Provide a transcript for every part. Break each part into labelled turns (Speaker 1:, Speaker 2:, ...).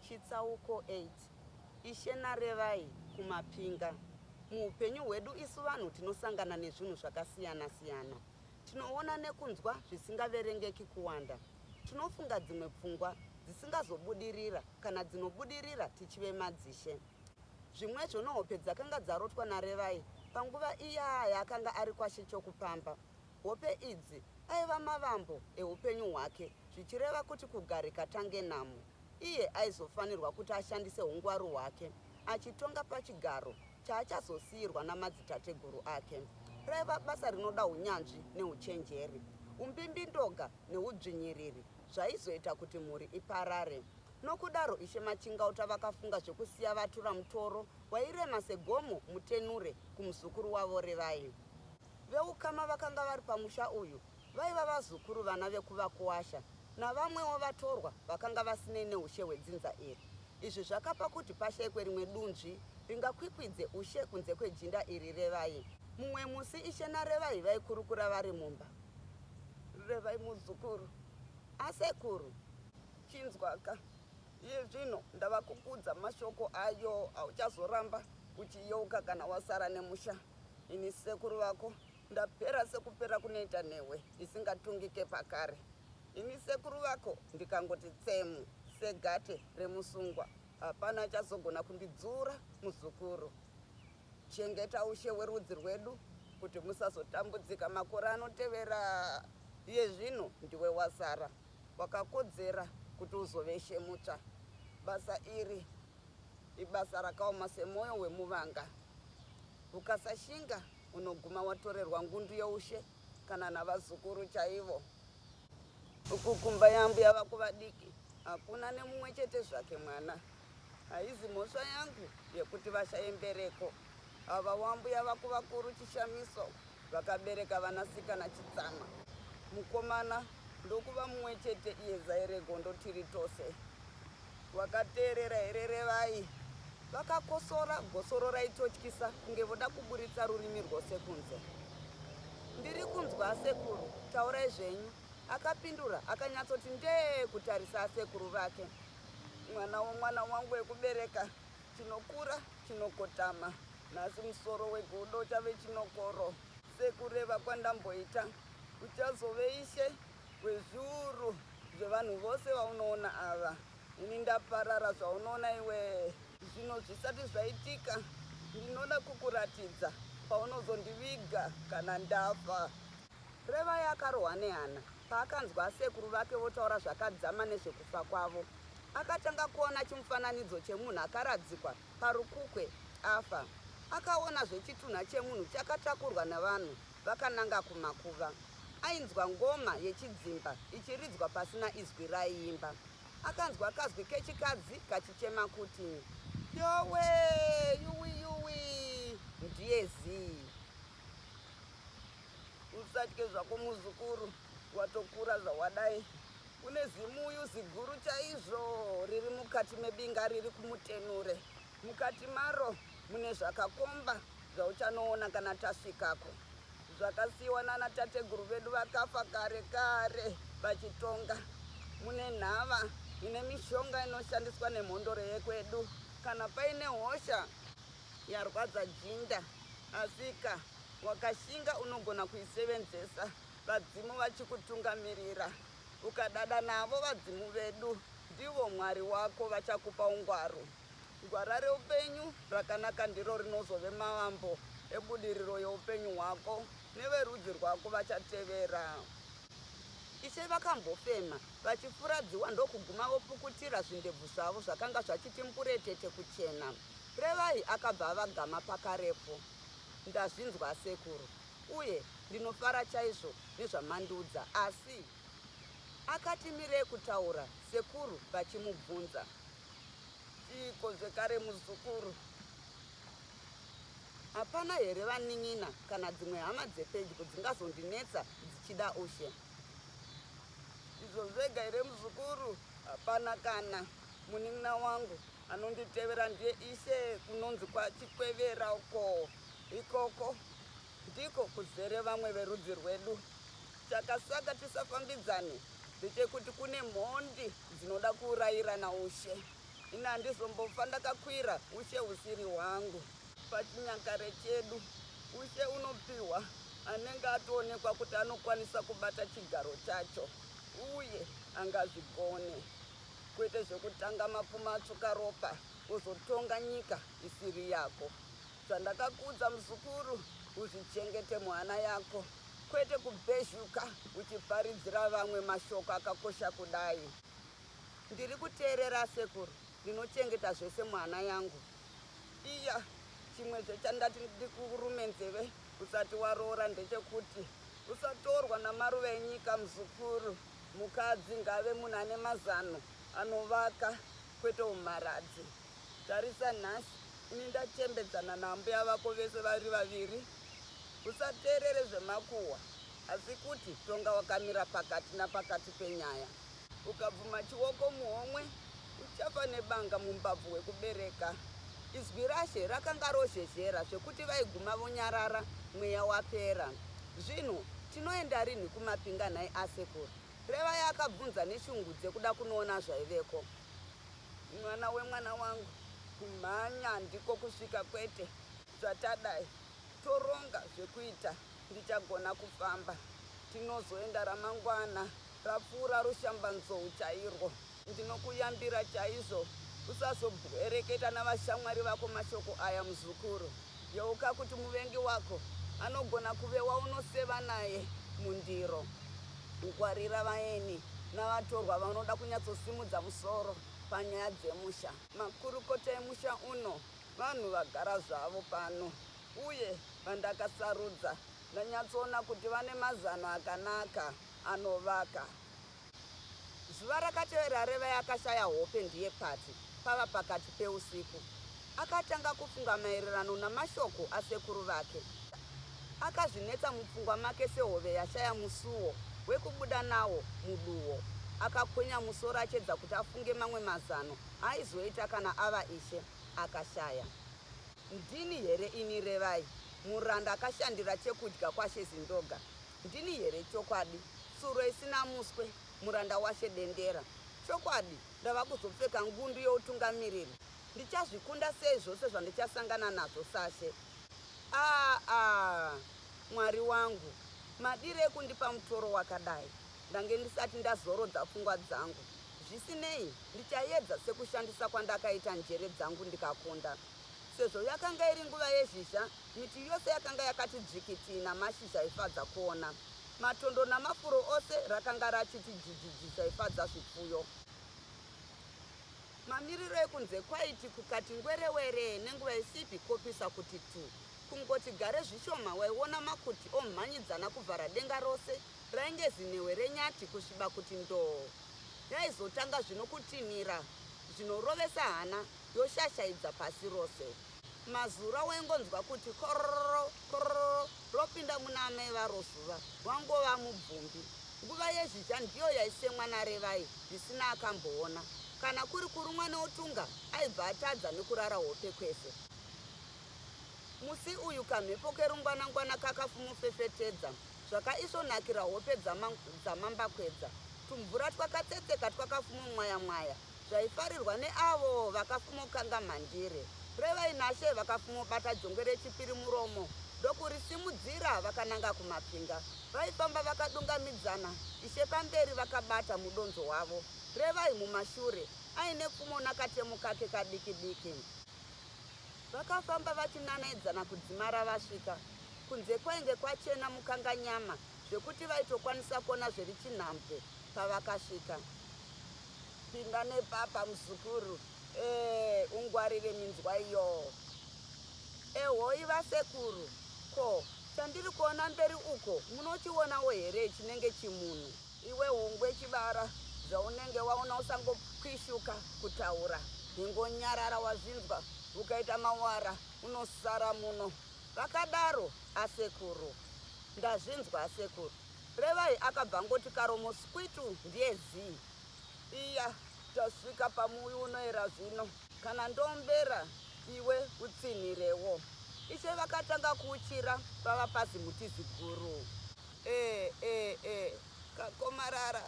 Speaker 1: Chitsauko 8 Ishe Narevai kuMapinga Muupenyu hwedu isu vanhu tinosangana nezvinhu zvakasiyana siyana. Tinoona nekunzwa zvisingaverengeki kuwanda. Tinofunga dzimwe pfungwa dzisingazobudirira kana dzinobudirira tichive madzishe. Zvimwezvo nohope dzakanga dzarotwa naRevai panguva iya yaakanga ari kwaShe Chokupamba. Hope idzi aiva mavambo ehupenyu hwake zvichireva kuti kugarika tange namo. Iye aizofanirwa kuti ashandise hungwaru hwake achitonga pachigaro chaachazosiirwa namadzitateguru ake. Raiva basa rinoda hunyanzvi nehuchenjeri. Umbimbindoga nehudzvinyiriri zvaizoita kuti mhuri iparare. Nokudaro Ishe Machingauta vakafunga zvekusiya vatura mutoro wairema segomo mutenure kumuzukuru wavo Revai. Veukama vakanga vari pamusha uyu vaiva vazukuru vana vekuvakuwasha navamwewo vatorwa vakanga vasinei neushe hwedzinza iri. Izvi zvakapa kuti pashaikwe rimwe dunzvi ringakwikwidze ushe kunze kwejinda iri Revai. Mumwe musi Ishe naRevai vaikurukura vari mumba. Revai, Muzukuru, a sekuru. Chinzwaka, iye zvino ndava kukuudza mashoko ayo auchazoramba uchiyeuka kana wasara nemusha. Ini sekuru vako ndapera sekupera kunoita newe isingatungike pakare. Ini sekuru vako ndikangoti tsemu segate remusungwa hapana achazogona kundidzura muzukuru. Chengeta ushe werudzi rwedu kuti musazotambudzika makore anotevera. Iye zvino ndiwe wasara wakakodzera kuti uzove ishe mutsva. Basa iri ibasa rakaoma semwoyo wemuvanga. Ukasashinga unoguma watorerwa ngundu youshe kana navazukuru chaivo. Uku kumba yaambuya vako vadiki hakuna nemumwe chete zvake mwana. Haizi mhosva yangu yekuti vashaye mbereko ava waambuya vako vakuru chishamiso. vakabereka vanasikana chitsama mukomana ndokuva mumwe chete iye zairegondo tiri tose wakateerera here revai vakakosora gosoro raitotyisa kunge voda kuburitsa rurimi rwose kunze ndiri kunzwa asekuru taurai zvenyu akapindura akanyatsoti ndee kutarisa asekuru vake mwana womwana wangu wekubereka Chinokura chinokotama, nhasi musoro wegodo uchave chinokoro. Sekureva kwandamboita, uchazove ishe wezviuru zvevanhu vose vaunoona ava. Ini ndaparara zvaunoona iwee. Zvino zvisati zvaitika, ndinoda kukuratidza paunozondiviga kana ndafa. Revai akarohwa nehana paakanzwa asekuru vake votaura zvakadzama nezvekufa kwavo. Akatanga kuona chimufananidzo chemunhu akaradzikwa parukukwe afa. Akaonazve chitunha chemunhu chakatakurwa navanhu vakananga kumakuva. Ainzwa ngoma yechidzimba ichiridzwa pasina izwi raiimba. Akanzwa kazwi kechikadzi kachichema kuti. Yowe! Yuwi yuwi! Ndiye zii! usatye zvako muzukuru watokura zvawadai kune zimuyu ziguru chaizvo riri mukati mebinga riri kumutenure mukati maro mune zvakakomba zvauchanoona kana tasvikako zvakasiyiwa nana tateguru vedu vakafa kare kare vachitonga mune nhava ine mishonga inoshandiswa nemhondoro yekwedu kana paine hosha Yarwadza jinda asika wakashinga unogona kuisevenzesa vadzimu vachikutungamirira ukadada navo vadzimu vedu ndivo mwari wako vachakupa ungwaru gwara reupenyu rakanaka ndiro rinozove mavambo ebudiriro yeupenyu hwako neverudzi rwako vachatevera ishe vakambofema vachifuradziwa ndokuguma vopukutira zvindebvu zvavo zvakanga zvachiti mburetete kuchena Revai akabva avagama pakarepo. Ndazvinzwa asekuru uye ndinofara chaizvo nezvamandiudza asi. Akati mirei kutaura sekuru vachimubvunza. Chiiko zvekare muzukuru? Hapana here vanin'ina kana dzimwe hama dzepedyo dzingazondinetsa dzichida ushe? Ndizvo zvega here muzukuru? Hapana kana munin'ina wangu Anonditevera ndiye ise kunonzi kwachikwevera uko ikoko ndiko kuzere vamwe verudzi rwedu chakasaka tisafambidzane ndechekuti kune mhondi dzinoda kuurayirana ushe ini handizombofa ndakakwira ushe usiri hwangu pachinyakare chedu ushe unopiwa anenge atoonekwa kuti anokwanisa kubata chigaro chacho uye angazvigone kwete zvekutanga mapfumo atsvuka ropa wozotonga nyika isiri yako. Zvandakakuudza muzukuru, uzvichengete muhana yako, kwete kubhezhuka uchiparidzira vamwe mashoko akakosha kudai. Ndiri kuteerera asekuru, ndinochengeta zvese muhana yangu. Iya, chimwezve chandati ndikurume nzeve usati waroora ndechekuti usatorwa namaruva enyika muzukuru. Mukadzi ngaave munhu ane mazano anovaka kwete humharadzi. Tarisa nhasi ini ndachembedzana naambuya vako vese vari vaviri. Usateerere zvemakuhwa asi kuti tonga wakamira pakati napakati penyaya. Ukabvuma chioko muhomwe Uchafa nebanga mumbabvu wekubereka. Izwi raShe rakanga rozhezhera zvekuti vaiguma vonyarara mweya wapera. Zvino tinoenda rinhi kuMapinga nhai asekuru? Revai akabvunza neshungu dzekuda kunoona zvaiveko. Mwana wemwana wangu, kumhanya handiko kusvika kwete. Zvatadai toronga zvekuita ndichagona kufamba. Tinozoenda ramangwana rapfuura rushambanzou chairwo. Ndinokuyambira chaizvo usazobwereketa navashamwari vako mashoko aya, muzukuru. Yeuka kuti muvengi wako anogona kuve waunoseva naye mundiro. Ngwarira vaeni navatorwa vanoda kunyatsosimudza musoro panyaya dzemusha. Makurukota emusha uno vanhu vagara zvavo pano uye vandakasarudza ndanyatsoona kuti vane mazano akanaka anovaka. Zuva rakatevera Revai akashaya hope ndiye pati pava pakati peusiku akatanga kufunga maererano namashoko asekuru vake. Akazvinetsa mupfungwa make sehove yashaya musuwo wekubuda nawo muduwo. Akakwenya musoro achiedza kuti afunge mamwe mazano aaizoita kana ava ishe. Akashaya. Ndini here ini Revai, muranda akashandira chekudya kwaShe Zindoga Ndini here chokwadi tsuro isina muswe, muranda washe dendera? Chokwadi ndava kuzopfeka ngundu youtungamiriri. Ndichazvikunda sei zvose zvandichasangana nazvo sashe? Aah-aah! Mwari wangu, madirei kundipa mutoro wakadai? Ndange ndisati ndazorodza pfungwa dzangu. Zvisinei, ndichaedza sekushandisa kwandakaita njere dzangu ndikakunda. Sezvo yakanga iri nguva yezhizha, miti yose yakanga yakati dzvikiti namashizha aifadza kuona. Matondo namafuro ose rakanga rachiti jijiji zvaifadza zvipfuyo. Mamiriro ekunze kwaiti kukati ngwerewere nenguva isipi kopisa kuti tu. Kungoti gare zvishoma waiona makuti omhanyidzana kuvhara denga rose rainge zinhehwe renyati kusviba kuti ndoo. Yaizotanga zvino kutinhira zvinorovesa hana. yoshashaidza pasi rose. Mazura waingonzwa kuti kororo kororo ropinda muna amai varo zuva wangova mubvumbi. Nguva yezhizha ndiyo yaisemwa naRevai zvisina akamboona. Kana kuri kurumwa neutunga aibva atadza nekurara hope kwese. Musi uyu kamhepo kerungwanangwana kakafumufefetedza zvakaisvonakira hope dzaMambakwedza. Tumvura twakatsetseka twakafumumwayamwaya zvaifarirwa neavo vakafumokanga mhandire revainashe vakafumobata jongwe rechipiri muromo ndokurisimudzira vakananga kumapinga vaifamba vakadungamidzana ishe pamberi vakabata mudonzo wavo revai mumashure aine pfumo nakatemo kake kadiki diki vakafamba vachinanaidzana kudzimara vasvika kunze kwainge kwachena mukanganyama zvekuti vaitokwanisa kuona zverichinhambwe pavakasvika Pinda nepapa muzukuru. Eh, ungwarire minzwa iyo. Ehoi vasekuru, ko chandiri kuona mberi uko munochionawo here chinenge chimunhu? Iwe hungwe chibara zvaunenge waona usangokwishuka kutaura ingonyarara wazvinzwa ukaita mawara unosara muno vakadaro asekuru ndazvinzwa asekuru Revai akabva angoti karomo skwitu ndiye zii iya tasvika pamuuyu unoera zvino. Kana ndombera iwe utsinhirewo. Ishe vakatanga kuuchira pava pazimuti ziguru. Eh eh eh kakomarara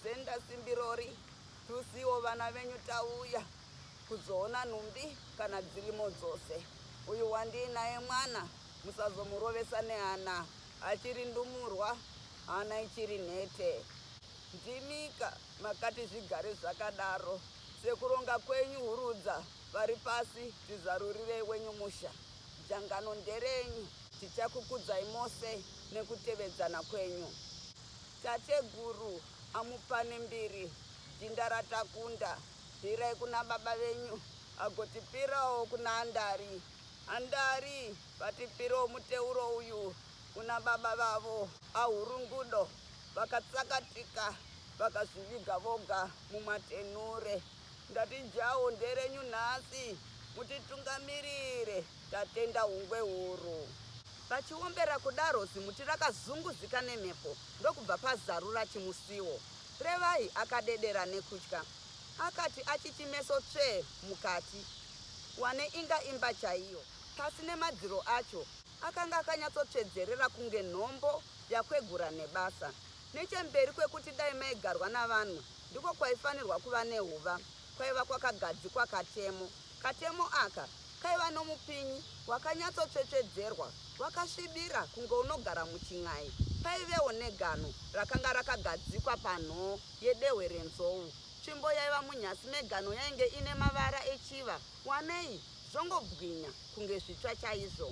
Speaker 1: zenda simbirori tusiwo vana venyu tauya kuzoona nhumbi kana dzirimo dzose. Uyu wandiinaye mwana musazomurovesa nehana. Achiri ndumurwa hana ichiri nhete. Ndimika makati zvigare zvakadaro. Sekuronga kwenyu hurudza vari pasi tizarurirei wenyu musha. Dzangano nderenyu tichakukudzai mose nekutevedzana kwenyu. Tateguru amupane mbiri jinda ratakunda pirai kuna baba venyu agotipirawo kuna Andari. Andari! Vatipiro muteuro uyu kuna baba vavo ahurungudo vakatsakatika vakazviviga voga mumatenure ndati jawo nderenyu nhasi mutitungamirire tatenda hungwe huru. Vachiombera kudaro zimuti rakazunguzika nemhepo ndokubva pazarura chimusiwo. Revai akadedera nekutya. Akati achichimeso tsvee mukati. Wane inga imba chaiyo. pasi nemadziro acho akanga akanyatsotsvedzerera kunge nhombo yakwegura nebasa. Nechemberi kwekuti dai maigarwa navanhu ndiko kwaifanirwa kuva nehuva kwaiva kwakagadzikwa katemo. Katemo aka kaiva nomupinyi wakanyatsotsvetsvedzerwa wakasvibira kunge unogara muchin'ai. Paivewo negano rakanga rakagadzikwa panhoo yedehwe renzou. Tsvimbo yaiva munyasi megano yainge ine mavara echiva. Wanei zvongobwinya kunge zvitsva chaizvo.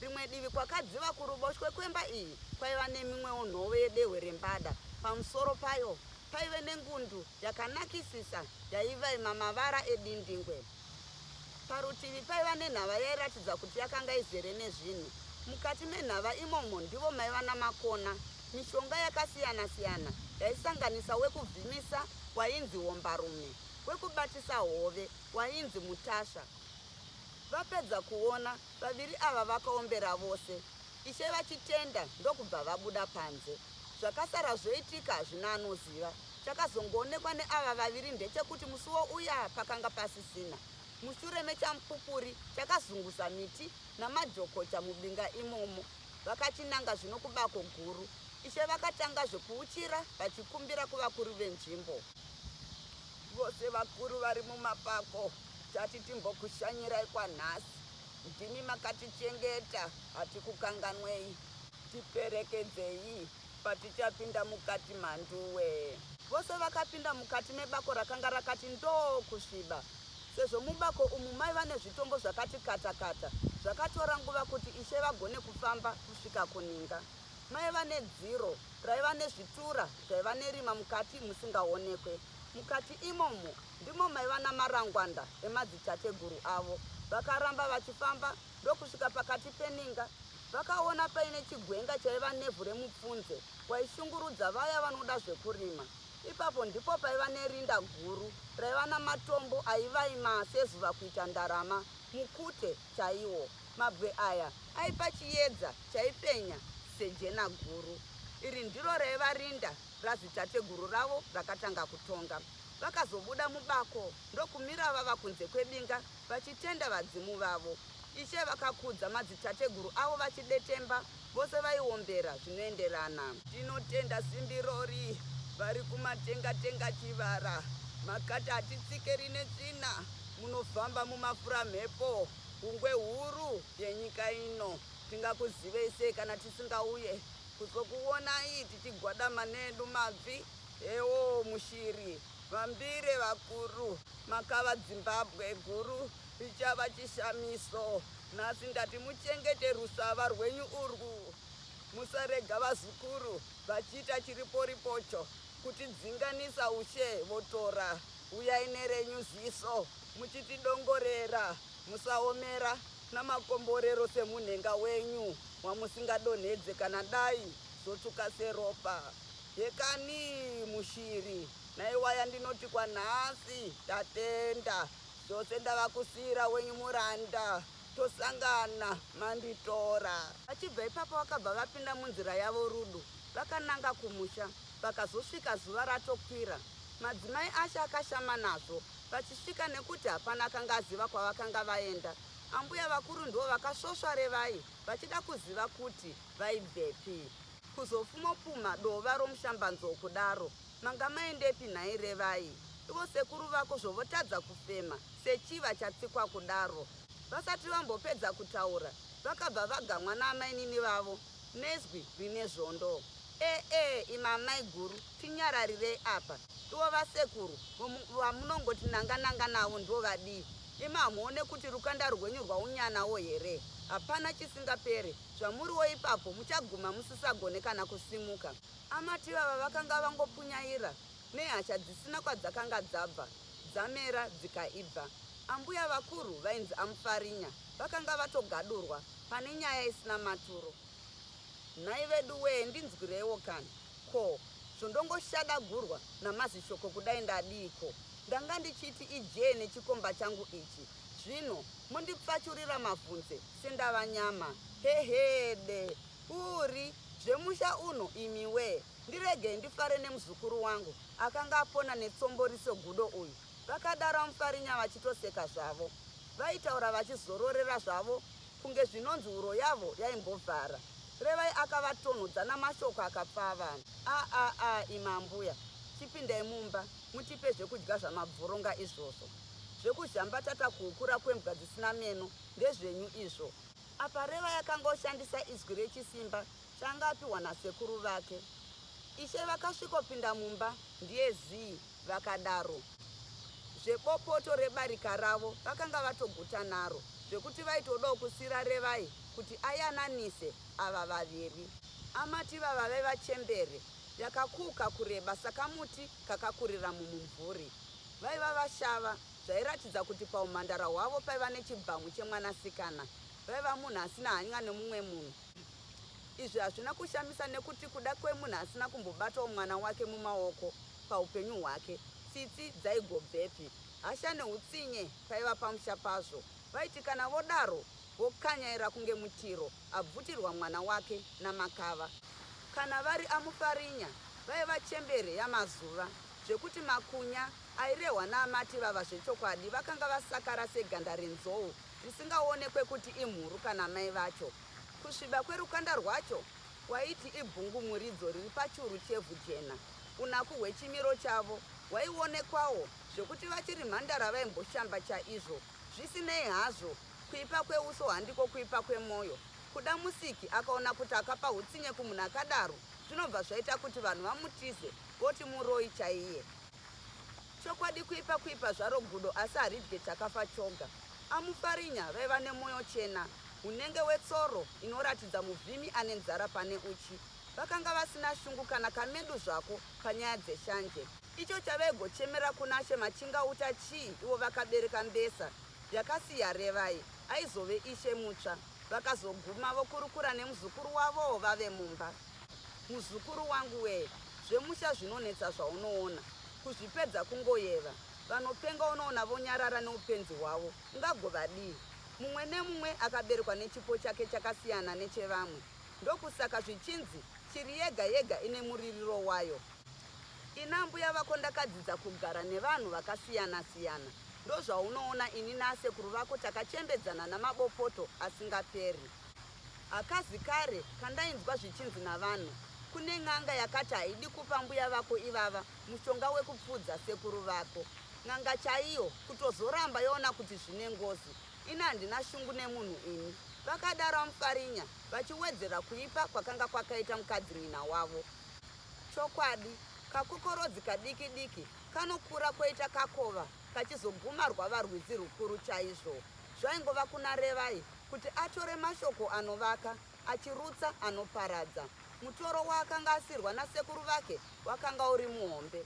Speaker 1: Rimwe divi kwakadziva kuruboshwe kwemba iyi kwaiva nemimwewo nhove yedehwe rembada. Pamusoro payo paive nengundu yakanakisisa yaivaima mavara edindingwe. Parutivi paiva nenhava yairatidza kuti yakanga izere nezvinhu. Mukati menhava imomo ndivo maiva namakona. Mishonga yakasiyana-siyana yaisanganisa wekuvhimisa wainzi wombarume. wekubatisa hove wainzi Mutasha. Vapedza kuona vaviri ava vakaombera vose Ishe vachitenda ndokubva vabuda panze. Zvakasara zvoitika hazvina anoziva. Chakazongoonekwa neava vaviri ndechekuti musuwo uya pakanga pasisina. Mushure mechamupupuri chakazungusa miti namajokocha mubinga imomo. Vakachinanga zvino kubako guru. Ishe vakatanga zvekuuchira vachikumbira kuvakuru venzvimbo. Vose vakuru vari mumapako tati timbokushanyirai kwanhasi. Ndimi makatichengeta hatikukanganwei. Tiperekedzei patichapinda mukati mhanduwe. Vose vakapinda mukati mebako rakanga rakati ndoo kusviba sezvo mubako umu maiva nezvitombo zvakati kata kata. Zvakatora nguva kuti Ishe vagone kufamba kusvika kuninga. Maiva nedziro raiva nezvitura zvaiva nerima mukati musingaonekwe. Mukati imomo ndimo maiva namarangwanda emadzitateguru avo. Vakaramba vachifamba ndokusvika pakati peninga. Vakaona paine chigwenga chaiva nevhu remupfunze waishungurudza vaya vanoda zvekurima. Ipapo ndipo paiva nerinda guru raiva namatombo aivaima sezuva kuita ndarama, mukute chaiwo. Mabwe aya aipa chiedza chaipenya sejena guru. Iri ndiro raiva rinda radzitateguru ravo rakatanga kutonga. Vakazobuda mubako ndokumira vava kunze kwebinga vachitenda vadzimu vavo. Ishe vakakudza madzitateguru avo vachidetemba, vose vaiombera zvinoenderana. Tinotenda simbi rori vari kumatenga tenga chivara makati hatitsike rine tsvina munofamba mumafura mhepo. Hungwe huru yenyika ino. Tingakuzivei sei kana tisingauye kuzokuonai tichigwadama needu mabvi? Hewo mushiri vambire vakuru makava Dzimbabwe guru richava chishamiso nhasi ndati muchengete rusava rwenyu urwu musarega vazukuru vachiita chiriporipocho kutidzinganisa ushe votora Uyai nerenyu ziso muchitidongorera, musaomera namakomborero semunhenga wenyu wamusingadonhedze kana dai zvotsvuka seropa. Hekani mushiri, naiwaya ndinoti kwanhasi tatenda, zvose ndava kusiira wenyu muranda, tosangana manditora. Vachibva ipapo vakabva vapinda munzira yavo Rudo vakananga kumusha. Pakazosvika zuva ratokwira, madzimai acho akashama nazvo vachisvika nekuti hapana akanga aziva kwavakanga vaenda. Ambuya vakuru ndivo vakasvosva Revai vachida kuziva kuti vaibvepi. Kuzofumopumha dova romushambanzou kudaro, manga maendepi nhai Revai? Ivo sekuru vako zvovotadza kufema sechiva chatsikwa kudaro. Vasati vambopedza kutaura, vakabva vaganwa naamainini vavo. Nezwi rine zvondo. Eeh imi amaiguru tinyararirei apa. Ivo vasekuru vamunongoti nanga nanga navo ndivo vadii. Imi hamuone kuti rukanda rwenyu rwaunyanawo here. Hapana chisingapere. Zvamuriwo ipapo muchaguma musisagone kana kusimuka. Amati ivava vakanga vangopunyaira nehasha dzisina kwadzakanga dzabva dzamera dzikaibva. Ambuya vakuru vainzi aMufarinya vakanga vatogadurwa pane nyaya isina maturo. Nhai veduwee ndinzwireiwo kani, ko zvondongoshadagurwa naMazishoko kudai ndadiiko? Ndanga ndichiti ijee nechikomba changu ichi zvino mondipfachurira mavhunze sendava nyama? Hehede! Uuri zvemusha uno imiwee! Ndiregei ndifare nemuzukuru wangu akanga apona netsomboriso gudo uyu, vakadaro aMufarinya vachitoseka zvavo. Vaitaura vachizororera zvavo kunge zvinonzi huro yavo yaimbovhara. Revai akavatonhodza namashoko akapfava. Aa-a-a imi ambuya, chipindai mumba mutipe zvekudya zvamabvoronga izvozvo. Zvekuzhambatata kuhukura kwembwa dzisina meno ndezvenyu izvo. Apa Revai akanga oshandisa izwi rechisimba Changa apiwa nasekuru vake. Ishe vakasvikopinda mumba ndiye zii vakadaro zvebopoto rebarika ravo vakanga vatoguta naro zvekuti vaitodawo kusiira Revai kuti ayananise ava vaviri. Amati ivava vaive vachembere yakakuuka kureba sakamuti kakakurira mumumvuri. Vaiva vashava zvairatidza kuti pahumhandara hwavo paiva nechibhamu chemwanasikana. Vaiva munhu asina hany'a nemumwe munhu Izvi hazvina kushamisa nekuti kuda kwemunhu asina kumbobatawo mwana wake mumaoko paupenyu hwake, tsitsi dzaigobvepi? Hasha neutsinye paiva pamusha pazvo. Vaiti kana vodaro vokanyaira kunge Mutiro abvutirwa mwana wake naMakava. Kana vari aMufarinya vaiva chembere yamazuva zvekuti makunya airehwa naamati ivava zvechokwadi vakanga vasakara seganda renzou. Zvisingaonekwe kuti imhuru kana mai vacho. Kusviba kwerukanda rwacho kwaiti ibvungumuridzo riri pachuru chevhu jena. Unaku hwechimiro chavo hwaionekwawo zvekuti vachiri mhandara vaimboshamba chaizvo. Zvisinei hazvo, kuipa kweuso handiko kuipa kwemwoyo. Kuda Musiki akaona kuti akapa hutsinye kumunhu akadaro zvinobva zvaita kuti vanhu vamutize voti muroyi chaiye. Chokwadi kuipa kuipa zvaro gudo asi haridye chakafa choga. Amufarinya vaiva nemoyo chena hunenge wetsoro inoratidza muvhimi ane nzara pane uchi. Vakanga vasina shungu kana kamedu zvako panyaya dzeshanje. Icho chavaigochemera kunaShe Machingauta chii ivo vakabereka mbesa yakasiya Revai aizove ishe mutsva. Vakazoguma vokurukura nemuzukuru wavoo vave mumba. Muzukuru wangu wee zvemusha zvinonetsa zvaunoona kuzvipedza kungoyeva vanopenga unoona vonyarara neupenzi hwavo ungagovadii mumwe nemumwe akaberekwa nechipo chake chakasiyana nechevamwe ndokusaka zvichinzi shiri yega yega ine muririro wayo ina mbuya vako ndakadzidza kugara nevanhu vakasiyana siyana ndozvaunoona ini naasekuru vako takachembedzana namabopoto asingaperi. Hakazi kare kandainzwa zvichinzi navanhu kune n'anga yakati haidi kupa mbuya vako ivava mushonga wekupfudza sekuru vako. N'anga chaiyo kutozoramba yoona kuti zvine ngozi. Ini handina shungu nemunhu ini. Vakadaro aMufarinya vachiwedzera kuipa kwakanga kwakaita mukadzinyina wavo. Chokwadi, kakokorodzi kadiki diki kanokura koita kakova kachizoguma rwava rwizi rwukuru chaizvo. Zvaingova kuna Revai kuti atore mashoko anovaka achirutsa anoparadza. Mutoro waakanga asirwa nasekuru vake wakanga uri muhombe.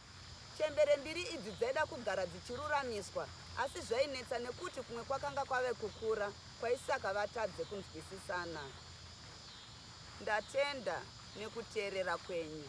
Speaker 1: Chembere mbiri idzi dzaida kugara dzichiruramiswa asi zvainetsa nekuti kumwe kwakanga kwave kukura kwaisaka vatadze kunzwisisana. Ndatenda nekuteerera kwenyu.